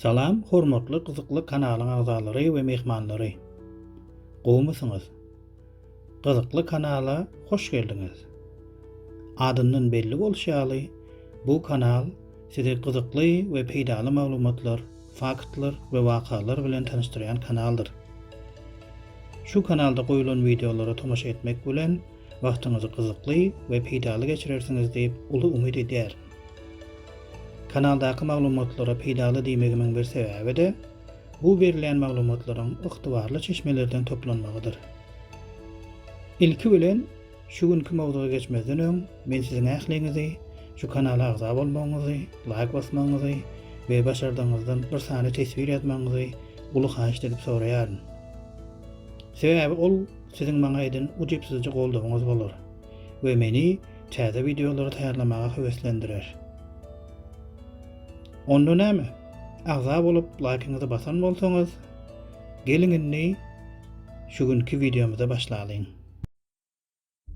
Salam hormatly gyzykly kanalyň agzalary we myhmanlary. Gowmysyňyz? Gyzykly kanala hoş geldiňiz. Adyndan belli bolşy ýaly, bu kanal sizi gyzykly we peýdaly maglumatlar, faktlar we wakalar bilen tanyşdyrýan kanaldyr. Şu kanalda goýulan wideolara tomaşa etmek bilen, Wagtyňyzy gyzykly we peýdaly geçirersiňiz diýip uly umyt edýärin. Kanaldaky maglumatlara peýdaly diýmegimiň bir sebäbi-de, bu berilýän maglumatlaryň ygtybarly çeşmelerden toplanmagydyr. Ilki bilen, şu günki mowzuga geçmezden öň, men siziň ähliňizi şu kanala agza bolmagyňyzy, laýk basmagyňyzy we başardygyňyzdan bir sany teswir ýazmagyňyzy uly haýyşt edip soraýaryn. Sebäbi ol Siziň maňa eden ujypsyzja goldawyňyz bolar we meni täze wideolary taýýarlamaga höweslendirer. Onda näme? Agza bolup laýkyňyzy basan bolsaňyz, geliň indi şu günki wideomyza başlalyň.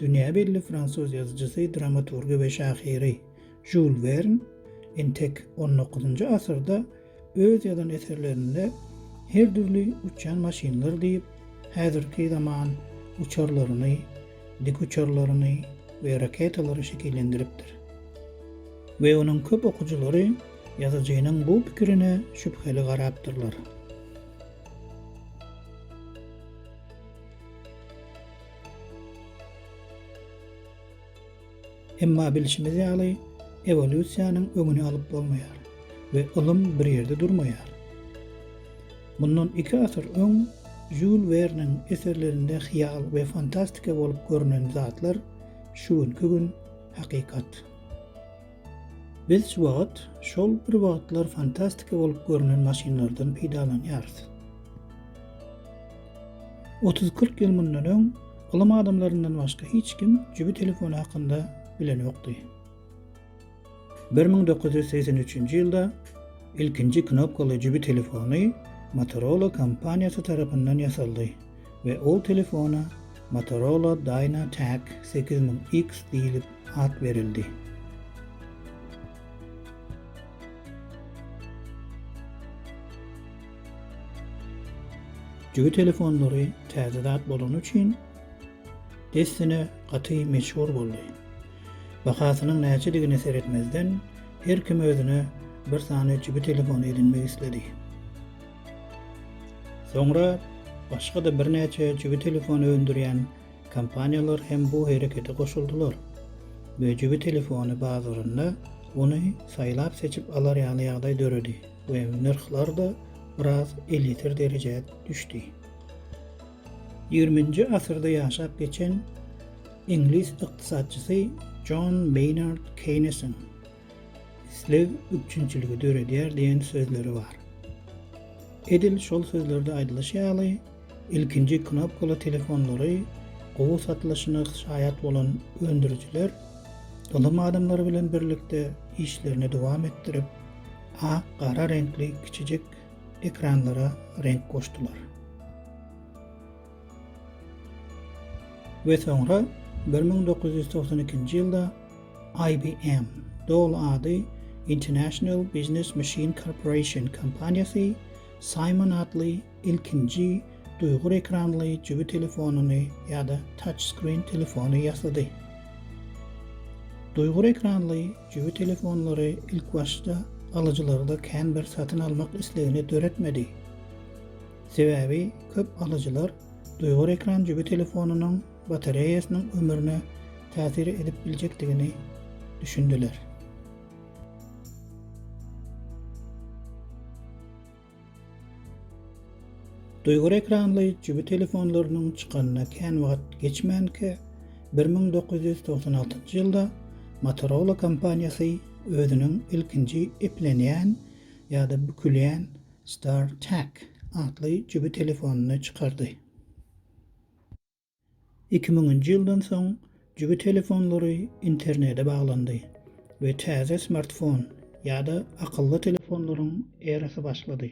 Dünýä belli fransuz ýazyjysy, dramaturgy we şahyry Žul Wern entek on dokuzynjy asyrda öz ýazan eserlerinde her dürli uçýan maşynlar diýip, häzirki zaman uçarlaryny, dikuçarlaryny we raketalary şekillendiripdir. We onuň köp okyjylary ýazyjynyň bu pikirine şübheli garapdyrlar. Emma bilşimiz ýaly, ewolýusiýanyň öňüni alyp bolmaýar we ylym bir ýerde durmaýar. Mundan iki asyr öň Žýul Werniň eserlerinde hyýal we fantastika bolup görnen zatlar şu günki gün hakykat. Biz şu wagt şol bir wagtlar fantastika bolup görnen maşynlardan peýdalanýarys. Otuz-kyrk ýyl mundan öň ylym adamlaryndan başga hiç kim jübi telefony hakynda bilenokdy. Bir müň dokuz ýüz segsen üçünji ýylda ilkinji knopkaly jübi telefony Motorola kompaniýasy tarapyndan ýasaldy. we ol telefona Motorola Dynatac sekiz müň X diýlip at berildi. Jübi telefonlary täze zat bolany üçin dessine gaty meşhur boldy. Bahasynyň näçedigine seretmezden, her kim özüne bir sany jübi telefony edinmek isledi. Soňra başga-da birnäçe jübi telefony öndürýän kompaniýalar hem bu herekete goşuldylar we jübi telefony bazarynda ony saýlap-seçip alar ýaly ýagdaý döredi we nyrhlar-da biraz elýeter derejä düşdi. Ýigriminji asyrda ýaşap geçen iňlis ykdysatçysy Jon Meýnard Keýnesiň Isleg üpjünçiligi döredýär diýen sözleri bar. Edil şol sözlerde aýdylyşy ýaly, ilkinji knopkaly telefonlary gowy satylyşyna şaýat bolan öndürijiler ylym adamlary bilen birlikde işlerini dowam etdirip, ak, gara reňkli kiçijik ekranlara reňk goşdular. we soňra bir müň dokuz ýüz togsan ikinji ýylda IBM, doly ady International Business Machine Corporation, kompaniýasy Simon atly ilkinji duýgur ekranly jübi telefonyny ýa-da touchscreen telefony ýasady. Duýgur ekranly jübi telefonlary ilkibaşda alyjylarda kän bir satyn almak islegini döretmedi. Sebäbi köp alyjylar duýgur ekran jübi telefonynyň batareýasynyň ömrüne täsir edip biljekdigini düşündiler. Duýgur ekranly jübi telefonlarynyň çykanyna kän wagt geçmänkä, bir müň dokuz ýüz togsan altynjy ýylda Motorola kompaniýasy özüniň ilkinji eplenýän ýa-da bükülýän StarTAC atly jübi telefonyny çykardy. Iki müňünji ýyldan soň jübi telefonlary internete baglandy we täze smartfon ýa-da akylly telefonlaryň erasy başlady.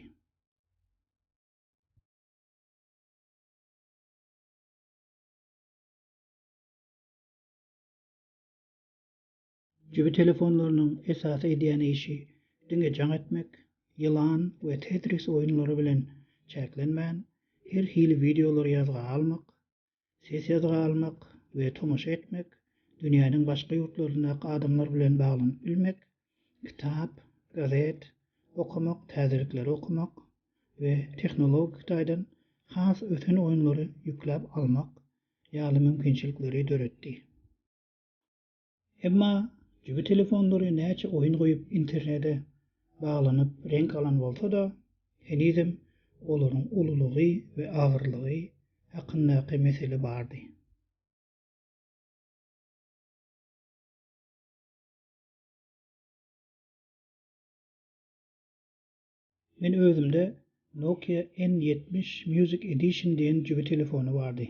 Jübi telefonlarynyň esasy edýän işi diňe jaň etmek, ýylan we tetris oýunlary bilen çäklenmän, her hili wideolary ýazga almak, ses ýazga almak we tomaşa etmek, dünýäniň başga ýurtlaryndaky adamlar bilen baglanyp bilmek, kitap, gazet, okamak, täzelikleri okamak we tehnologik taýdan has ösen oýunlary ýükläp almak ýaly mümkinçilikleri döretdi. Emma jübi telefonlary näçe oýun goýup internede baglanyp reňk alan bolsa-da, henizem olaryň ululygy we agyrlygy hakyndaky mesele bardy. Men özümde Nokia N ýetmiş Music Edition diýen jübi telefony bardy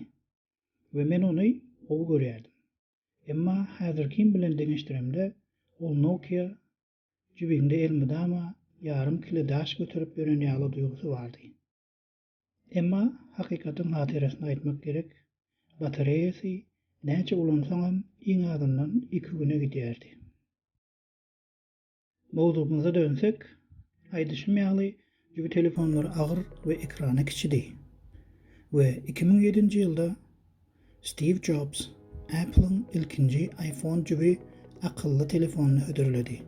we men ony gowy görýärdim. Emma häzirkim bilen deňeşdiremde ol Nokia jübiňde elmydama ýarym kile daş göterip ýören ýaly duýgusy bardy. Emma hakykatyň hatyrasyna aýtmak gerek, batareýasy näçe ulansaňam iň azyndan iki güne gidýärdi. Mowzugymyza dönsek, aýdyşym ýaly, jübi telefonlary agyr we ekrany kiçidi. We iki müň ýedinji ýylda Stiw Jobs Apple-iň ilkinji iPhone jübi akylly telefonyny hödürledi.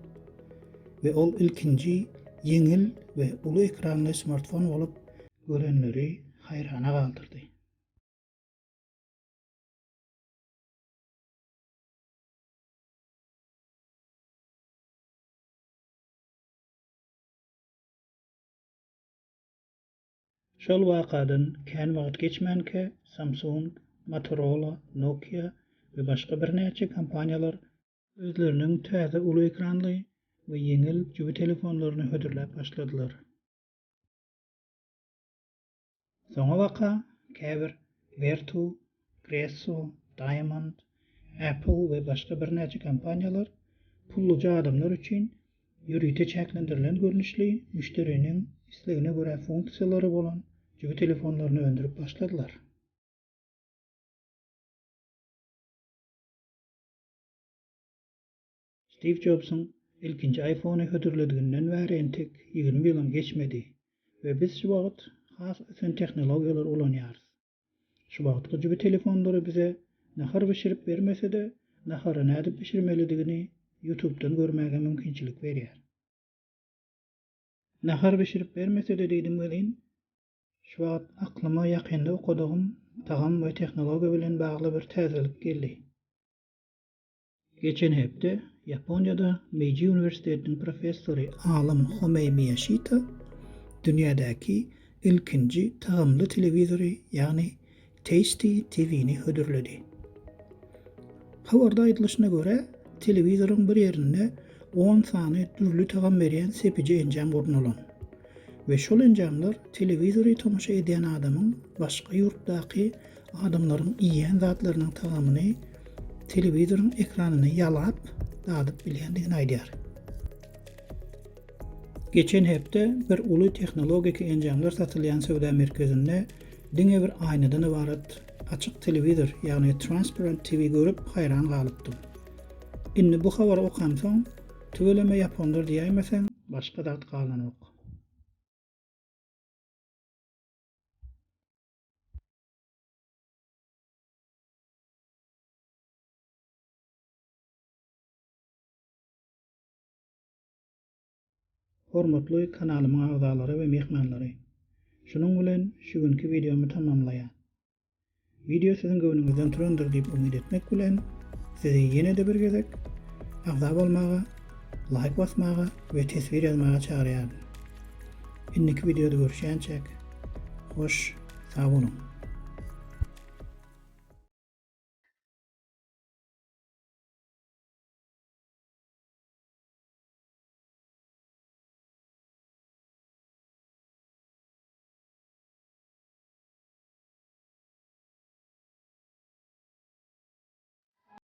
We ol ilkinji ýeňil we uly ekranly smartfon bolup, görenleri haýrana galdyrdy. Şol wakadan kän wagt geçmänkä Samsung, Motorola, Nokia we başga birnäçe kompaniýalar özleriniň täze uly ekranly we ýeňil jübi telefonlaryny hödürläp başladylar. Soňabaka käbir Vertu, Gresso, Diamond, Apple we başga birnäçe kompaniýalar pulluja adamlar üçin ýörite çäklendirilen görnüşli müşderiniň islegine görä funksiýalary bolan jübi telefonlaryny öndürip başladylar. Stiw Jobsyň ilkinji iPhone-y hödürlediginden bäri entek ýigrimi ýylam geçmedi we biz şu wagt has ösen tehnologiýalary ulanýarys. Şu wagtky jübi telefonlary bize nahar bişirip bermese-de, nahary nädip bişirmelidigini Ýutubdan görmäge mümkinçilik berýär. Nahar bişirip bermese-de diýdim welin, şu wagt aklyma ýakynda okadygym tagam we tehnologiýa bilen bagly bir täzelik geldi. Geçen hepde Ýaponiýada Meiji uniwersitetiniň professory alym Homei Miýaşita dünýädäki ilkinji tagamly telewizory, ýagny Tasty TV-ni hödürledi. Habarda aýdylyşyna görä, telewizoryň bir ýerinde on sany dürli tagam berýän sepiji enjam gurnalan we şol enjamlar telewizory tomaşa edýän adamyň başga ýurtdaky Adamlaryň iýýän zatlarynyň tagamyny telewizoryň ekranyny ýalap, dadyp bilýändigini aýdýar. Geçen hepde bir uly tehnologik enjamlar satylýan söwda merkezinde diňe bir aýnadan ybarat açyk telewizor, ýagny transparent TV görüp haýran galypdym. Indi bu habary okansoň, tüweleme ýaponlar diýäýmeseň, başga zat galanok. Hormatly kanalymyň agzalary we myhmanlary! Şunuň bilen şu günki wideomy tamamlaýan. Wideo siziň göwnüňizden turandyr diýip umyt etmek bilen, sizi ýene-de bir gezek agza bolmaga, laýk basmaga we teswir ýazmaga çagyrýaryn. Indiki videoda görüşýänçäk hoş sag boluň.